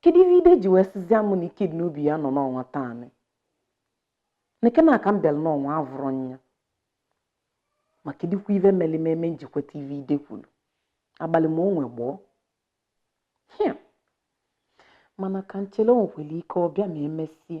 kedu ive ide ji wee sizie m na ike dị n'obi ya nọ n'ọnwa taanị neke na aka m bịara n'ọnwa avụrọ m ya ma kedikwa ive mere m eme m ji kweta ive ide kwuru abalị ma o nwe gboo hia mana ka m chere o nwekwara ike ọ bịa ma emesie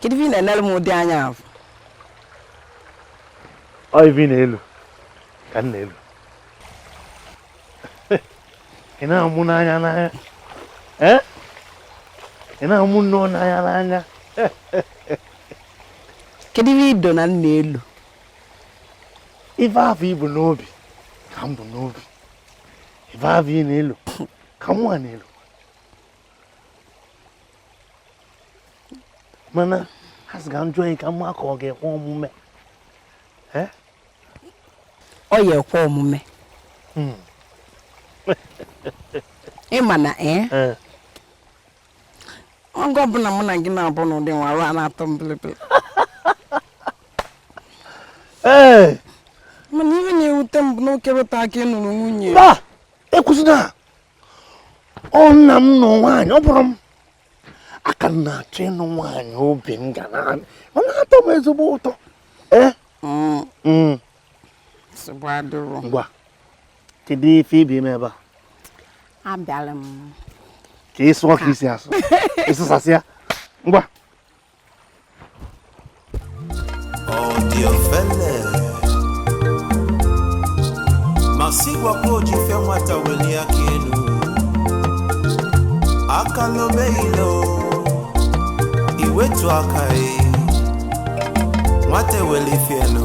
kedu ife ị na-enere m ụdị anya ahụ ọ ife ị na-elo ka m na-elo ị na-amụ n'anya n'anya eh? ị na-amụ nnọọ n'anya n'anya kedu ife ido na ị na-elo ife afụ i bu n'obi ka m bu n'obi ife afụ ị na-elo ka mụwa na-elo mana asị ka m jụọ gị ka m ma ka ọ ga-ekwe omume eh? ọ ya-ekwe omume hmm. ịma na ee eh? eh. oge ọbụna mụ na gị na-abụ n'ụdị nwa arụ na-atọ m bilibili ee mana ihe na-ewute m bụ na okerịta ka ị nụrụ nwunye ba ekwuzina ọ na m nụ nwaanyị ọ bụrọ maka m na-achọ ịnụ nwaanyị obi m ga na ọ na-atọ m ezigbo ụtọ ee Mm, mm, nsogbu adịrọ ngwa kedu ife ị bịa ime ebe a abịara m ka ị sụọ ka i si asụ ị sụsasịa ngwa ọ dị ofele ma sị gwakwa o ji ife nwata welie aka enu aka lobe ilo i wetu aka e nwata eweli ife e nụ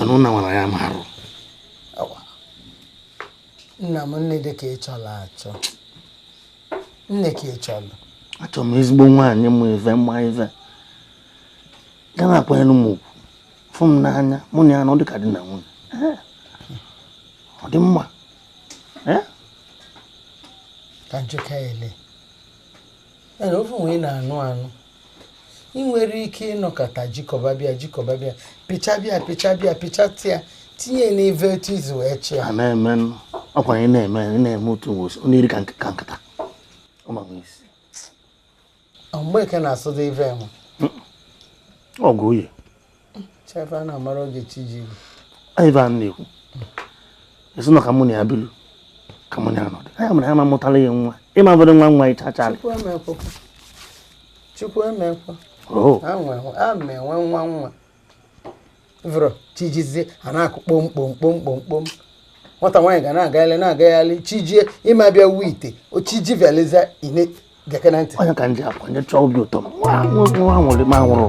anụ na nwara ya marụ nna m nne dị ka ị chọrọ achọ nee ka ị chọrọ achọrọ m ezigbo nwaanyị ma ife ma ife ga na-akwanyere m ugwu fụ m n'anya mụ na ya nọ dịka di na nwunye ọ dị mma ka njụka ele ofe nwe na-anụ anụ ị nwere ike ịnọkata jikọbabịa jikọbabịa pịchabịa pịchabịa pịchatịa tinye n'ive etu izu wee chịa a na-eme ọkwa anyị na-eme anyị na-eme otu mgbosi ọ na-eri ka nke- ka nkata Ọ ma nwe isi. mgbe eke na-asụda ive enwe ọgụ oyi Ivan na-ekwu esi na ka mụ na ya bilu ka mụ na ya nọdụ anya mara ya ma mụtala ya nwa ịma bụrụ nwa nwa ịcha chara chukwu emekwa oh. a ma enwe nwa nwa vụrụ chi jizie a na-akụ kpom kpom kpom kpom kpom nwata nwaanyị ga na-agagharị na-agagharị chi jie ịma bịa wuo ite ochiji veliza ine geke na ntị onye ka ndị akwa nye chọọ obi ụtọ nwa nwụrụ ma nwụrụ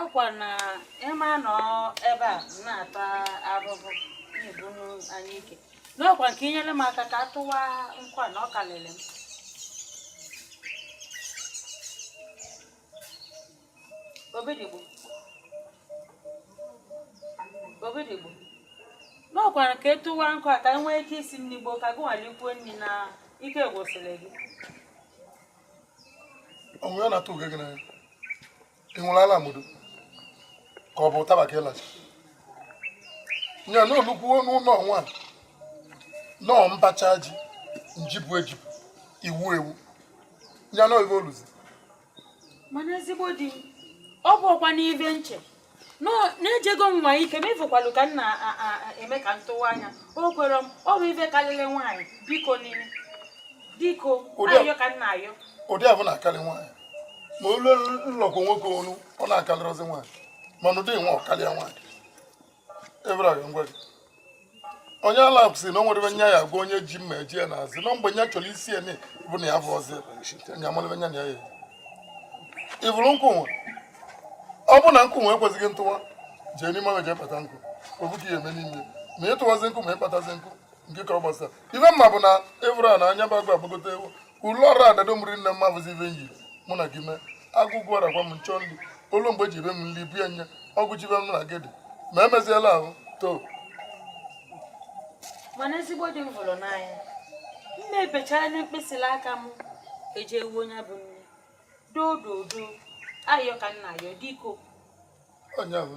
ọkwa na ị ma anọ ebe a na-ata ahụhụ na-ebu anyike na ọkwa ka i nyere m aka ka a tụwa nkụ a na ọ kalịrị m obidigbo obidigbo na ọkwa ka a tụwa nkụ a ka e nwee ike isi nri gboo ka gị nwa likwuo nri na ike gwụsịrị gị o nwe ihe na-atụ uge gị n'anya ị ṅụrụ ala mgbodo ka ọ bụ ụtaba ka ị lachi nya na olukwuo n'ụlọ ọnwa nọọ mbacha ji njibu ejibu iwu ewu nya na oyibo oluzi mana ezigbo di ọ bụ ọkwa n'ife m che na ejego m nwaa ike m ị fụkwalụ ka m na-eme ka m tụwaa nya o kwere m ọ bụ ife karịrị nwaanyị biko di m biko ayọ ka m na-ayọ ọ dị abụ na-akarị nwaanyị ma o lu nlọgwụ nwoke ọnụ ọ na-akarịrịzi nwaanyị mana ụdị nwa ọ karịa nwaanyị ebere ngwa gị onye ala si na o nwere ife ya agwa onye ji mma eje ya n'azụ na mgbe nya chọrọ isi ya bụ na ya bụ ọzọ nya amalụ ebe nya na ya ya ị vụrụ nkụ nwa ọ bụ na nkụ nwa ekwezighị ntụwa jee n'ime ọrụ jee kpata nkụ ofu ka ị ya-eme n'ime ma ị tụwazi nkụ ma ị kpatazi nkụ nke kọrọ gbasara ife m ma bụ na ị vụrụ a na anya bụ agụ agbagote ewu ụlọ ọrụ adado mụrụ nne mma bụzi ife nyị mụ na gị mee agụgụ ọra gwa m nchọ ndị olu mgbe ji be m nri bie nye ọgụ jibe m na gị dị ma emeziela ahụ too mana ezigbo di m hụrụ n'anya nne ebechara na mkpịsịlị aka m eji ewu onye bụ nne doo doo doo ayọ ka m na-ayọ biko onye ahụ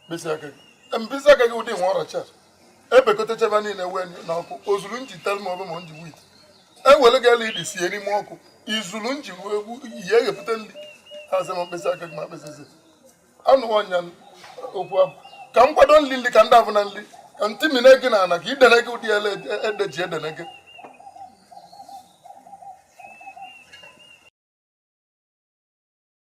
mkpịsị aka gị mkpịsị aka gị ụdị nwa ọrọchi a ebekọtacha ba niile wee na ọkụ o zuru nri tel ma ọbụ ma nji wit ewere gị elu idi sie n'ime ọkụ i zuru nri wee egwu ihe eghepụta nri asị m mkpịsị aka gị ma mkpịsịzi anụwa ọnya okwu abụ ka m kwado nri nri ka ndị abụ na nri ka ntị mine gị na ana ka idene gị ụdị ele ede ji edene gị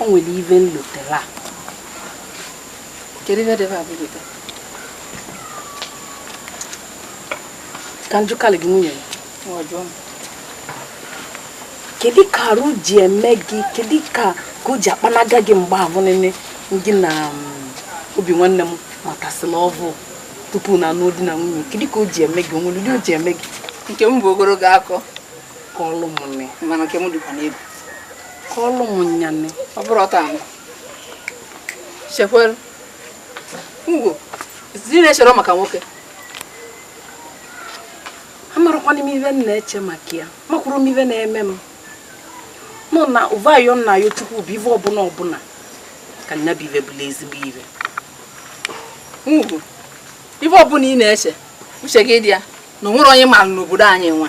o nwere ive m lotela kedu ive debe abụlota ka m jụkalị gị nwunye kedu ka arụ ji eme gị kedu ka ka o ji akpanaga gị mgbe ahụ nile gị na mm, obi nwanne m matasịla ọvụ tupu na anụ di na nwunye kedu ka o ji eme gị o nwere ụdị o ji eme gị nke m bụ ogologo akụkọ kọlụ m nne mana nke m dịkwa n'ebu kọọlụ m nya nne ọ bụrụ ọta anụ chekwere ngwo zi na-echere maka nwoke amarakwana m ive m na-eche maka ya makwuru m ive na-eme m nọ na ụvayo nna ya chukwu bụ ive ọbụla ọbụla ka nya bụ ive bụla ezigbo ive ngwu ive ọbụla ị na-eche uche gị dị ya na o nwere onye mara n'obodo anyị nwa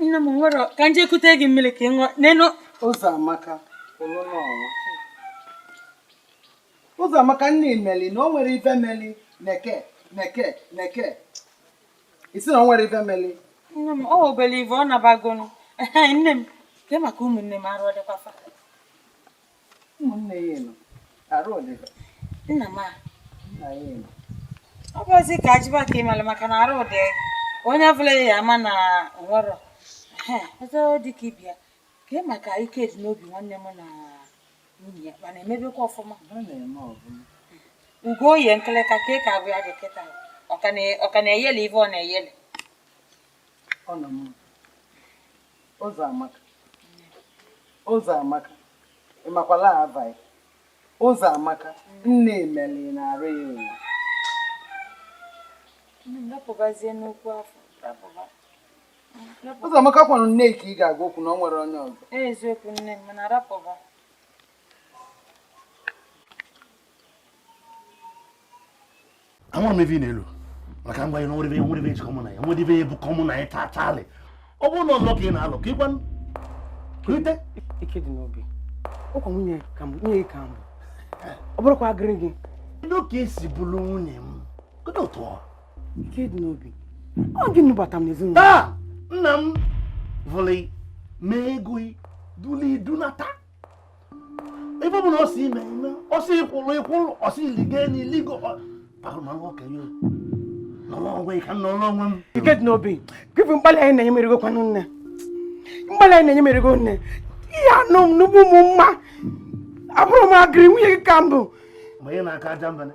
nne m nwere ka m je kute gị mmiri ka ị ṅụọ n'elu ụzọamaka ụzọamaka nne imeli na o nwere ive meli neke neke neke ị sị na o nwere ive meli nne m ọ obele ive ọ nabagonu nne m ke maka ụmụnne m arụ ọ dịkwa fa ụmụnne ya elu arụ ọdịda nna m a nna ya elu ọ bụzi ka ajịba ka ịmara maka na arụ dị onye ọbụla ya ama na nwere ọzọ dị ka ibia ka ị maka ikedinobi nwanne m na nwunye ya mana emebekwa ọfụma ọ na-eme ọbụla ugo o yi nkịlịka ka ị ka abụ ya dị kịta ọ ka na- ọ ka na-eyeli ife ọ na-eyeli ọ nọ mma ụzọamaka ụzọamaka ị makwala abaghị ụzọamaka nne emeli na-arụ ya ụwa ụzọamaka kwanụ nne ka ị ga-agwa okwu na o nwere onye ọzọ eziokwu nne m mana arapụba anwụrụ m ive ị na-elu maka ngwa na nwere nwere ive jikọ mụ na ya nwere ive jikọ mụ na ya taa taalị ọ bụrụ na ọzọ ka ị na-alụ ka ịgwa rite ikedinobi ọkwa nwunye ka m nwunye ka m ọ bụrụkwa agịrị gị kedu ka i si bụrụ nwunye m kedu otu ọ ikedinobi ọ gị nụbata m n'ezinụlọ taa nna m vụlị mee ego duli dunata ive ọ bụla ọ sị ị mee ị mee ọ sị ị kwụrụ ị kwụrụ ọ sị ligo enu ị ligo ahụmanụ okenye nọrọ onwe ka m nọrọ onwe m ikedinobi gị bụ mkpali a ị na-enye m erugo kwanụ nne mkpali a ị na-enye m erugo nne ihe anụ m n'ugbu mụ nwa abụrọ m agịrị nwunye gị ka m bụ mgbe ị na-aka aja mbana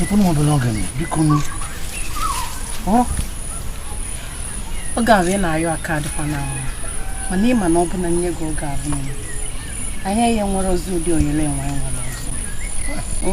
Mkpụrụ m obere oge biko nụ. Oge ahụ ị na-ayọ aka adịkwa na ahụ mana ị ma na ọ bụ na m nye gị oge ahụ nọ anya ihe nwere ozi ụdị oyele enwe nwere ọzọ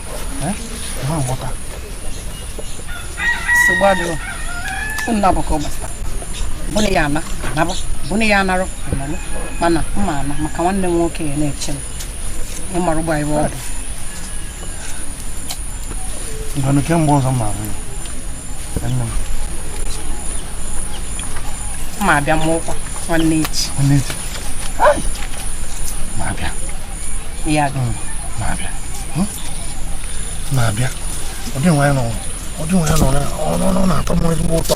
bụna ya ana anaba bụna ya anarụ analụ mana mma ana maka nwanne m nwoke ya na-eche m ị mara ụgbọ ebe ọ dị ngwanụ kemgbe ọzọ ma abụ ya nne m ma abịa m ụkwa nwanne echi nwanne echi ma abịa ya gị na-abịa hmm? na-abịa ọ dị nwa ya nọ ọ dị nwa ya nọ na ọ na-atọ m ezigbo ụtọ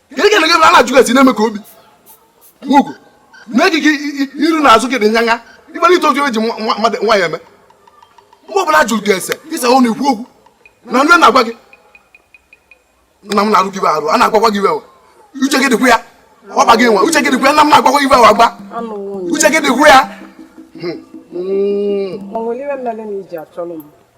gịnị ka na-ege a na-ajụ gasị na-eme ka obi ugwu mee gị gị iru na azụ gị dị nyanya ị gbara ite oge eji mmadụ nwaanyị eme mgbe ọbụla jụrụ gị ese ịsa hụ na ikwu okwu na nne na-agwa gị nna m na-arụ gị arụ a na-agwakwa gị ife uche gị dịkwa ya ọ ba gị mba uche gị dịkwa ya nna m na-agwakwa ife awa gba uche gị dịkwa ya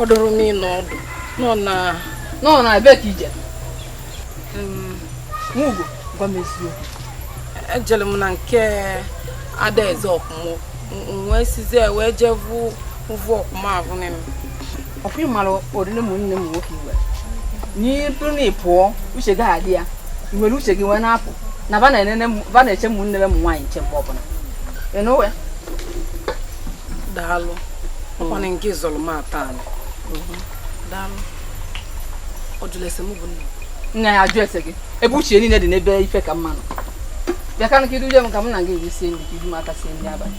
ọ dụrụ m ịnọ ọdụ nọ na nọ na ebe ka ị je nwugo gwa m eziokwu ejere m na nke adaeze ọkụmụ wee sizie wee jee vu ụvụ ọkụmụ ahụ nne m ọkwa ị mara oriri m nne m nwoke iwe n'iru na ị pụọ uche gị adị ya i were uche gị wee na-apụ na ba na-eche m nne m nwaanyị nche mgbe ọbụla ịnụwe daalụ ọkwa na nke zọrọ m ata anụ daalụ ọ jụrụ ese m bụ nna nna ya ajụ ese gị ebe uche niile dị n'ebe ife ka mma nọ bịa ka i duje m ka m na gị jee sie nri ka ibu m aka sie nri abalị